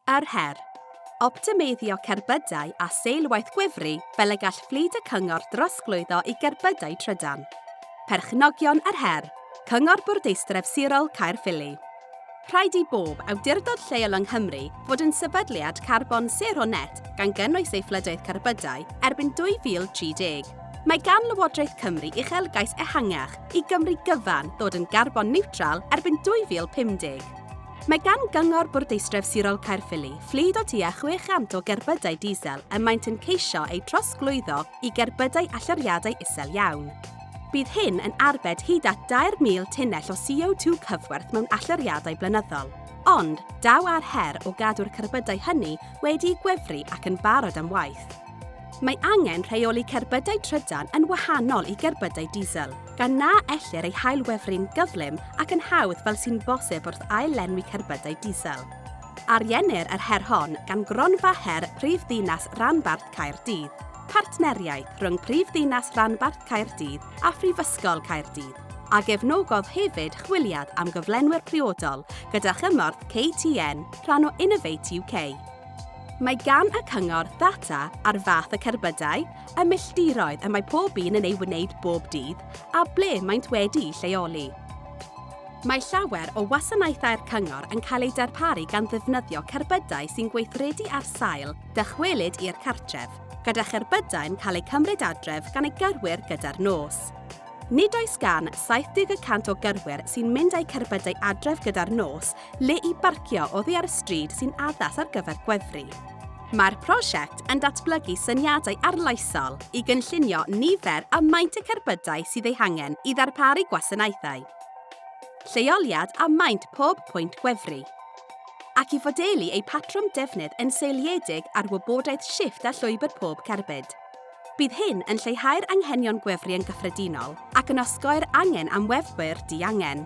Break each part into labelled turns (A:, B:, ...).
A: Yr her. Optimeiddio cerbydau a seilwaith gwefru fel y gall fflyd y cyngor drosglwyddo i gerbydau trydan. Perchnogion yr her. Cyngor Bwrdeistref Sirol Caerffili. Rhaid i bob awdurdod lleol yng Nghymru fod yn sefydliad carbon sero net gan gynnwys ei fflydoedd cerbydau erbyn 2030. Mae gan Lywodraeth Cymru uchelgais ehangach i Gymru gyfan ddod yn garbon niwtral erbyn 2050. Mae gan Gyngor Bwrdeistref Sirol Caerffili fflyd o tua 600 o gerbydau diesel y maent yn ceisio eu trosglwyddo i gerbydau allyriadau isel iawn. Bydd hyn yn arbed hyd at 2,000 tunnell o CO2 cyfwerth mewn allyriadau blynyddol. Ond, daw ar her o gadw'r cerbydau hynny wedi'u gwefru ac yn barod am waith. Mae angen rheoli cerbydau trydan yn wahanol i gerbydau diesel. gan na ellir ei hailwefru'n gyflym ac yn hawdd fel sy'n bosib wrth ail-lenwi cerbydau diesel. Ariennir yr her hon gan Gronfa Her Prif Ddinas Ranbarth Caerdydd, partneriaeth rhwng Prif Ddinas Ranbarth Caerdydd a Phrifysgol Caerdydd, a gefnogodd hefyd chwiliad am gyflenwyr priodol gyda chymorth KTN, rhan o Innovate UK. Mae gan y cyngor ddata ar fath y cerbydau, y milltiroedd y mae pob un yn ei wneud bob dydd a ble maent wedi'u lleoli. Mae llawer o wasanaethau'r Cyngor yn cael eu darparu gan ddefnyddio cerbydau sy'n gweithredu ar sail dychwelyd i'r cartref, gyda cherbydau'n cael eu cymryd adref gan eu gyrwyr gyda'r nos. Nid oes gan 70 y cant o gyrwyr sy'n mynd â'u cerbydau adref gyda'r nos Le i barcio oddi ar y stryd sy'n addas ar gyfer gwefru. Mae'r prosiect yn datblygu syniadau arloesol i gynllunio nifer a maint y cerbydau sydd eu hangen i ddarparu gwasanaethau, lleoliad a maint pob pwynt gwefru, ac i fodelu eu patrwm defnydd yn seiliedig ar wybodaeth shifft a llwybr pob cerbyd. Bydd hyn yn lleihau'r anghenion gwefru yn gyffredinol ac yn osgoi'r angen am wefwyr diangen.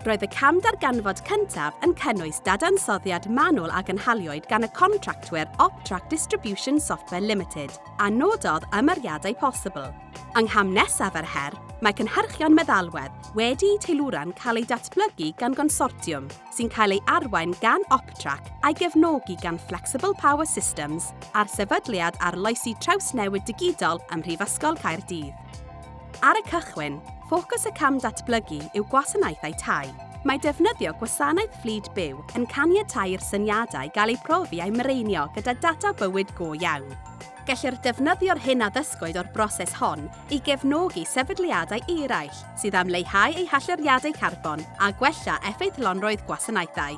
A: Roedd y cam darganfod cyntaf yn cynnwys dadansoddiad manwl a gynhaliwyd gan y contractwyr Optrack Distribution Software Limited a nododd ymyriadau posibl. Yng ngham nesaf yr her, mae cynhyrchion meddalwedd wedi'u teilwra'n cael eu datblygu gan gonsortiwm, sy'n cael ei arwain gan Optrac a'i gefnogi gan Flexible Power Systems a'r Sefydliad Arloesi Trawsnewid Digidol ym Mhrifysgol Caerdydd. Ar y cychwyn, ffocws y cam datblygu yw gwasanaethau tai. Mae defnyddio gwasanaeth fflyd byw yn caniatáu i'r syniadau gael eu profi a'u mireinio gyda data bywyd go iawn. Gellir defnyddio'r hyn a ddysgwyd o'r broses hon i gefnogi sefydliadau eraill sydd am leihau eu hallyriadau carbon a gwella effeithlonrwydd gwasanaethau.